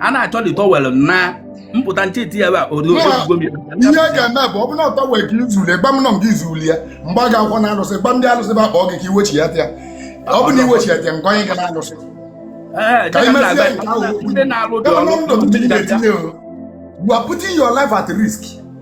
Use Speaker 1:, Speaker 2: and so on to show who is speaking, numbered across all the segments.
Speaker 1: a na-achọ the towel na mpụta ncheti ya ihe ga-eme bụ ọ bụrụ na ọ towel ka i zulu gba m nọ nke i zulu ya mgbe a ga-akwọ na alụsị gba ndị alụsị ga-akpọ gị ka i wechiyata ya ọ bụ na i wechiyata ya nke onye ga na alụsị ka imezie nke ahụ ndị na-alụ the ọrụ you are putting your life at risk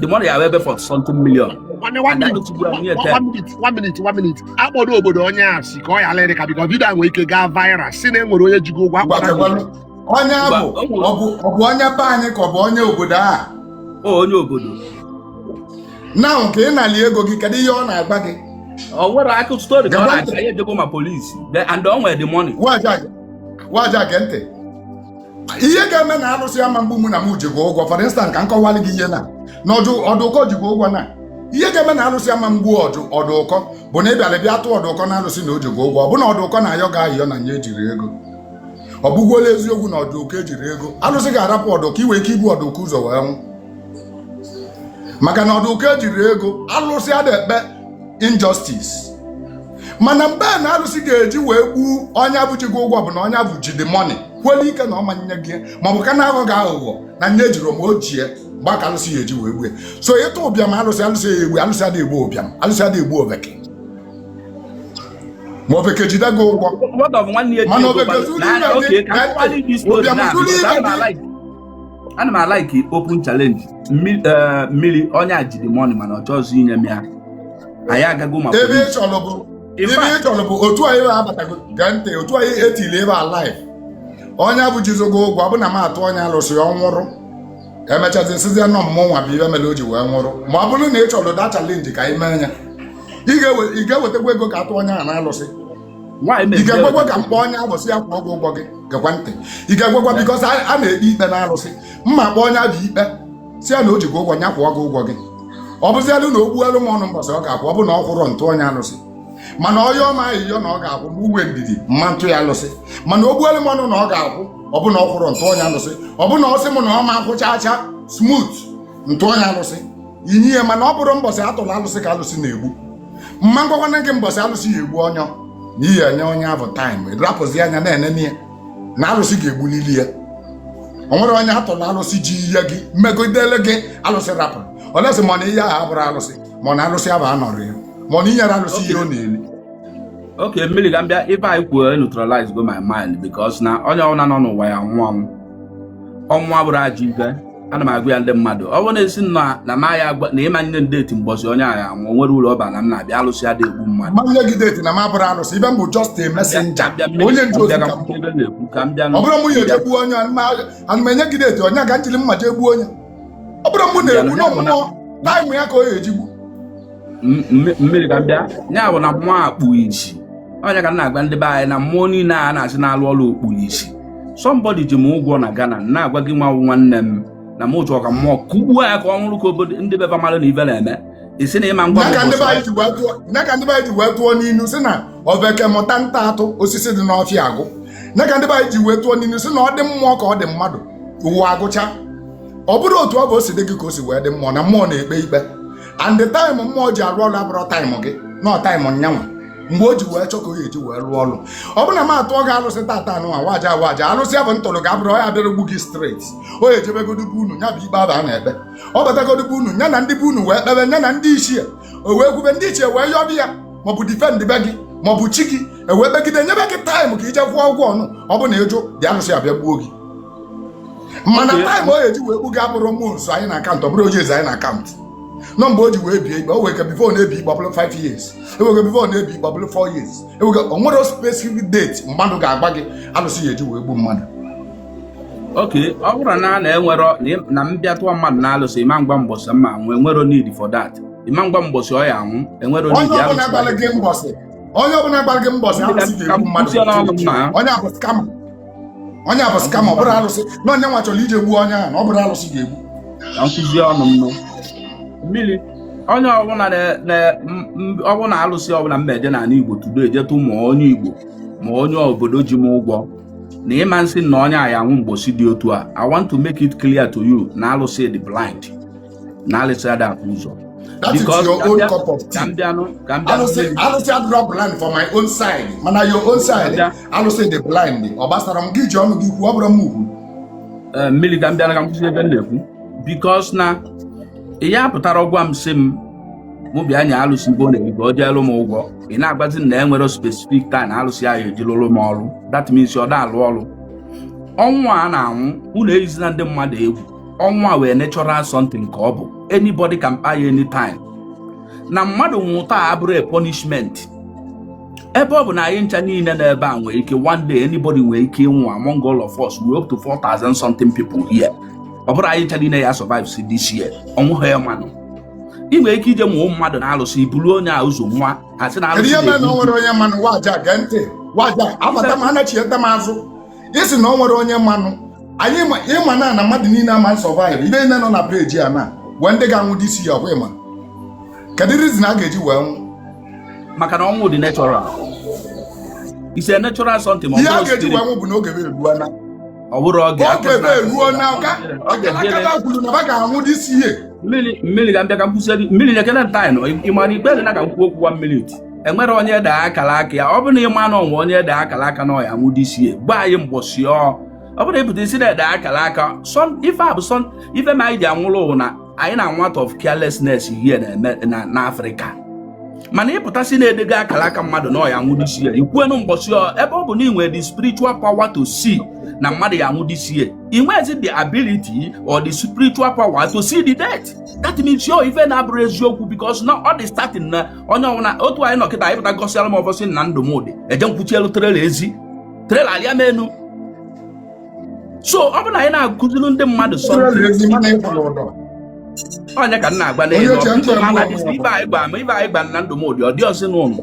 Speaker 1: the money ya ebe four something million nwanne one minute one minute one minute one minute akpọdo obodo onye a si ka ọ yalụ ịdị ka because video nwere ike gaa viral si na e nwere onye ji gị ụgwọ akpọta onye abụ ọ bụ onye be anyị ka ọ bụ onye obodo a onye obodo na ka ị nali ego gị kedu ihe ọ na-agba gị ọ nwere akụkọ story ka ọ na-aga ya ejego ma police and ọ nwere the money waja gee ntị ihe ga-eme na arụsị ama egbu mụ na m ji gị ụgwọ for instance ka m kọwalị gị ihe na na ọdụ ọdụkọ ji gị ụgwọ na ihe ga-eme na arụsị ama egbu ọdụ ọdụkọ bụ na ị bịara bịa tụọ ọdụkọ na arụsị na o ji gị ụgwọ ọ bụ na ọdụkọ na-ayọ gị ayịyọ na nya ejirọ ego ọ bụgolu eziokwu na ọdụkọ ejirọ ego arụsị ga-arapụ ọdụkọ i nwe ike ibu ọdụkọ ụzọ wee nwụ maka na ọdụkọ ejirọ ego alụsị ada ekpe injustice mana mgbe a na alụsị ga-eji wee gbuo onye abụ ji gị ụgwọ bụ na onye abụ ji the money kwele ike na ọ ma nye gị ma ọ bụ ka na-aghọ gị aghụghọ na nya ejirọ ma o ji ya mgbe a ka alụsị ya-eji wee gbue so ị tụ ụbịam alụsị alụsị ya egbu alụsị adịghị egbu ụbịam alụsị adịghị egbu oveke ma oveke jide gị ụgwọ What of nwanne ya ji mana ego oveke kpalụ? zuru Na- ire okay, gị ka m kwali this story ụbịam na- zuru ire ka m gị na-alike. ana m alike open challenge Mmi- eh, mmiri onye a ji the money mana ọ chọrọ inye m ya anyị agago ma ebe ị chọrọ bụ In ebe ị fact- chọrọ bụ otu anyị bụ abatago gee ntị otu anyị etili ebe a live onye abụ jizi gị ụgwọ ọ bụ na m atụ onye alụsị ọ nwụrụ e mechazi a sịzị na ọ mụnwa bụ ibe mere o ji wee nwụrụ ma ọ bụrụ na ị chọrọ the challenge ka anyị mee ya ị ga-ewe- ị ga-ewetakwa ego ka a tụ onye ahụ na alụsị ị ga-ekwekwa ka m kpọọ onye abụ sị ya kwụọ gị ụgwọ gị gekwa ntị ị ga-ekwekwa because a na-ekpe ikpe na arụsị mma kpọ onye abụ ikpe sị ya na o ji gị ụgwọ ya kwụọ gị ụgwọ gị ọ bụzialụ na o kwuelu m ọnụ mbọsị ọ ga-akwụ ọ bụ na ọ kwụrọ m tụọ onye alụsị mana ọ yọọ m ayịyọ na ọ ga-akwụ mụ nwee ndidi mma atụ ya alụsị mana o kwuelu m ọnụ na ọ ga-akwụ ọ bụ na ọ kwụrọ m tụọ onye alụsị ọ bụ na ọ sị m na ọ ma akwụ chaa chaa smooth m tụọ onye alụsị inye ya mana ọ bụrọ mbọsị a tụrụ alụsị ka alụsị na-egbu mma agwakwanụ gị mbọsị alụsị ya egbu ọnyọ na ị ya-enye onye ahụ time rapụzi anya na-enene ya na alụsị ga-egbulili ya o nwerọ onye a tụlụ alụsị ji ihe gị megidele gị alụsị rapụrụ unless mana ihe ahụ abụrọ alụsị mana alụsị ahụ anọrọ ya mana i nyerọ alụsị ihe ọ na-eli Okay, mmiri ga mbịa ife anyị kwuo neutralize go my mind because na onye ọbụla nọ n'ụwa ya nwụọ anwụ ọnwụ abụrọ ajọ ife ana m agwa ya ndị mmadụ ọ bụrụ na ị si na na m ga-agwa na m ma-enye gị deti mbọsị onye a ga-anwụ o nwere ụlọ ọba na m na-abịa alụsị adị egbu mmadụ m enye gị deti na m abụrọ alụsị ife m bụ just a messenger Ka m bịa- onye ndu ozi ka m ka m bụ. bịa na-ekwu ka m bịa ọ bụrụ mụ ya-eje gbuo onye ana m enye gị deti onye ka m jiri mma jee gbuo onye ọ bụrọ mụ na-egbu na ọ mmụọ taịmụ ya ka ọ ya-eji gbu mmiri ka m bịa ya bụ na mmụọ akpụ isi onye ka na-agwa ndị be anyị na mmụọ niile a na-asị na-alụ ọrụ okpuru isi sọmbọdị ji m ụgwọ na Ghana na-agwa gị nwa nwanne m na m chọrọ ka mmụọ kụgbuo ya ka ọ nwụọ ka obodo ndị be fa mara na ife na-eme i si na ịma ngwa ya ka ndị be anyị ji wee tụọ n'inu si na ofeke mụta ịta atụ osisi dị n'ọfịa agwụ ya ka ndị be anyị ji wee tụọ n'inu si na ọ dị mmụọ ka ọ dị mmadụ ụwa agwụcha ọ bụrụ otu ọ bụ o si dị gị ka o si wee dị mmụọ na mmụọ na-ekpe ikpe and the time mmụọ ji arụ ọrụ abụrọ taịmụ gị na ọ taịmụ nya nwa mgbe o ji wee chọọ ka o ga-eji wee rụọ ọrụ ọ bụrụ na m atụọ gị alụsị tata anụ nwa waja waja alụsị ya bụ m tụrụ gị abụrọ ya bịara gbu gị straight o jebegodi be unu ya bụ ikpe aba a na-ekpe ọ batagodi be unu ya na ndị be unu wee kpebe ya na ndị ichie o wee kwube ndị ichie wee yọbe ya maọbụ difend be gị maọbụ chi gị ewee kpegide nyebe gị taịmụ ka i je kwụọ ụgwọ ọnụ ọ bụ na ị jụ dị alụsị abịa gbuo gị mana taịm onye ji wee kpuga abụrọ mmụọ nso anyị na-akaụntụ ọ bụrọ oji eze anyị na-akaụntụ na ọ mgbe o ji wee bie ikpe o nwee ike bifo na-ebi ikpe ọ bụrụ 5 years e nwee ike bifo na-ebi ikpe ọ bụrụ 4 years e nwee ike o nwero specific date mmadụ ga-agwa gị alụsị ya-eji wee gbuo mmadụ oke ọ bụrụ na a na enwero na m bịa tụọ mmadụ na alụsị ịma ngwa mbọsị m ma-anwụ enwero need for that ịma ngwa mbọsị ọ ya-anwụ enwero need ya alụsị onye ọbụla gwara gị mbọsị alụsị ga-egbu mmadụ onye a bụ skama onye a bụ skama ọ bụrọ alụsị na onye nwa chọrọ ije gbuo onye ahụ na ọ bụrọ alụsị ga-egbu na nkụzi ọnụ m nụ. mmiri onye ọbụla na- na- m- m- ọbụla alụsị ọbụla m na-eje n'ala igbo tudo ejetụ ma onye igbo ma onye obodo ji m ụgwọ na ịma nsị na onye a ya-anwụ mbọsị dị otu a i want to make it clear to you na alụsị dị blind na alụsị ada afụ ụzọ That is Because your ka own mbịa- cup of ka tea. mbịanụ ka mbịanụ Alụsị mmeri. alụsị adịrọ blind for my own side mana your own side Ada. alụsị dị blind ọ gbasaro m gị ji ọnụ gị kwuo ọ bụrọ m kwuu Eh, mmiri ka mbịanụ ka m kwusie ife m na-ekwu bikos na ihe a pụtara gwa m si m mụ bịa nye alụsị ife ọ na-eri ka ọ jeelu m ụgwọ ị na-agwazi m na e nwere spesifik taịm alụsị ahụ eji lụrụ m ọrụ that means ọ da alụ ọrụ ọnwụ a na-anwụ unu eyizina ndị mmadụ egwu ọnwụ a wụ a natural something nke ọ bụ anybody can kpai anytime na mmadụ nwụ taa abụrọ a punishment ebe ọ bụ na anyị ncha niile n'ebe a nwere ike one day anybody nwere ike ịnwụ among all of us we up to 4000 something people here ọ bụrọ anyị ncha niile ya survive si this year ọnwụ ha ya manụ ị nwere ike ije mụọ mmadụ na alụsị i buru onye a ụzọ nwụọ a sị na Kedu alụsị ihe mere na na-egbu o nwere onye m manụ waja gee ntị waja abata m anachieta m azụ ị sị na o nwere onye mmanụ anyị ịma na na mmadụ niile ama survive ibe niile nọ na page a na e nwee ndị ga-anwụ this year ọkwa ịma kedu reason a ga-eji wee nwụ maka na ọnwụ dị natural is a natural something ihe a ga-eji wee nwụ bụ na oge bụ eruo na ọ bụrụ oge oge bụ eruo na akara aka kwuru na ba ga-anwụ this year mmiri ga-abịa ka m kwụsịrị mmiri na-ekele ntaịnụ ịmara ikpe dị na ka m kwuo okwu one minute enwere onye ede akara aka ya ọ bụrụ na ịma na o nwe onye ede akara aka na ọ ya-anwụ this year gwa anyị mbọsị ọ ọ bụrụ ị pụta sị na e de akara aka ife a bụ sọ ife ma anyị ji anwụrụ ụwa na anyị na-anwụ out of carelessness here na-eme na africa mana ị pụta sị na e dego akara aka mmadụ na ọ ya-anwụ this year i kwuenu mbọsị ebe ọ bụ na ị nwere the spiritual power to see na mmadụ ya-anwụ this year ị nwezi the ability or the spiritual power to see the date that means yo ife na-abụrụ eziokwu because na ọ dị certain na onye ọbụla otu anyị nọ kịta ị pụta gosịara m ụbọsị na ndụ mụ dị eje nkwuchielu trailer ezi trailer alịa m enu so ọ bụ na anyị na-akụziri ndị mmadụ so onye ka m na-agba n'elu ibe anyị gba ma ibe anyị gba na ndụ mụ dị ọ dị ọsị n'ụlọ